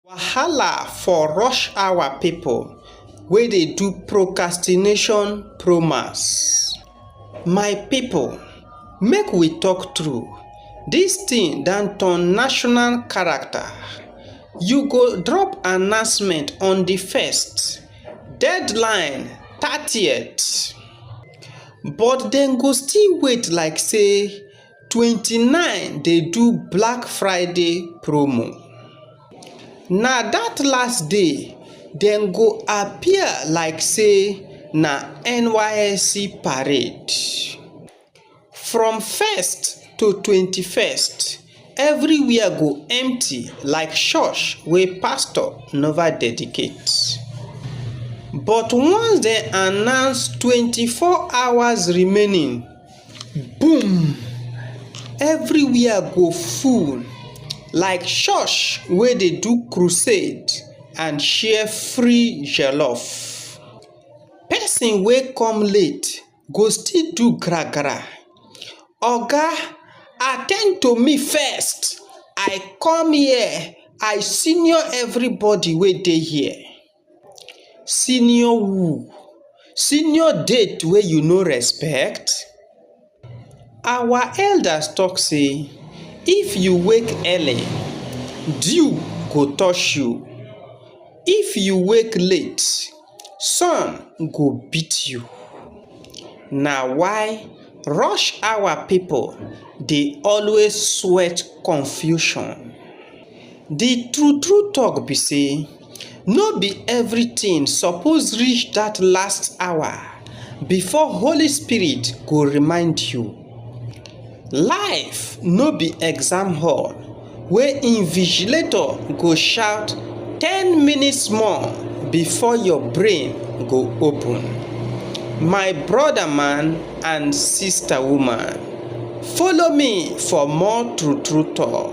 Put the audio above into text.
Wahala for rush hour people wey dey do procrastination promas my people make we talk true this thing don turn national character you go drop announcement on the first deadline thirtieth but dem go still wait like say twenty nine dey do black friday promo na that last day dem go appear like say na nysc parade. from first to twenty first everywhere go empty like church wey pastor nova dedicate. but once dem announce twenty four hours remaining. boom! everywhere go full like church wey dey do crusade and share free jollof. person wey come late go still do gra gra “oga at ten d to me first i come here i senior everybody wey dey here”. senior who senior death wey you no expect our elders talk say if you wake early dew go touch you if you wake late sun go beat you na why rush hour people dey always sweat confusion the true true talk be say. no be everything suppose reach that last hour before holy spirit go remind you. life no be exam hall wey invigilator go shout ten minutes more before your brain go open. my brother man and sister woman follow me for more true true talk.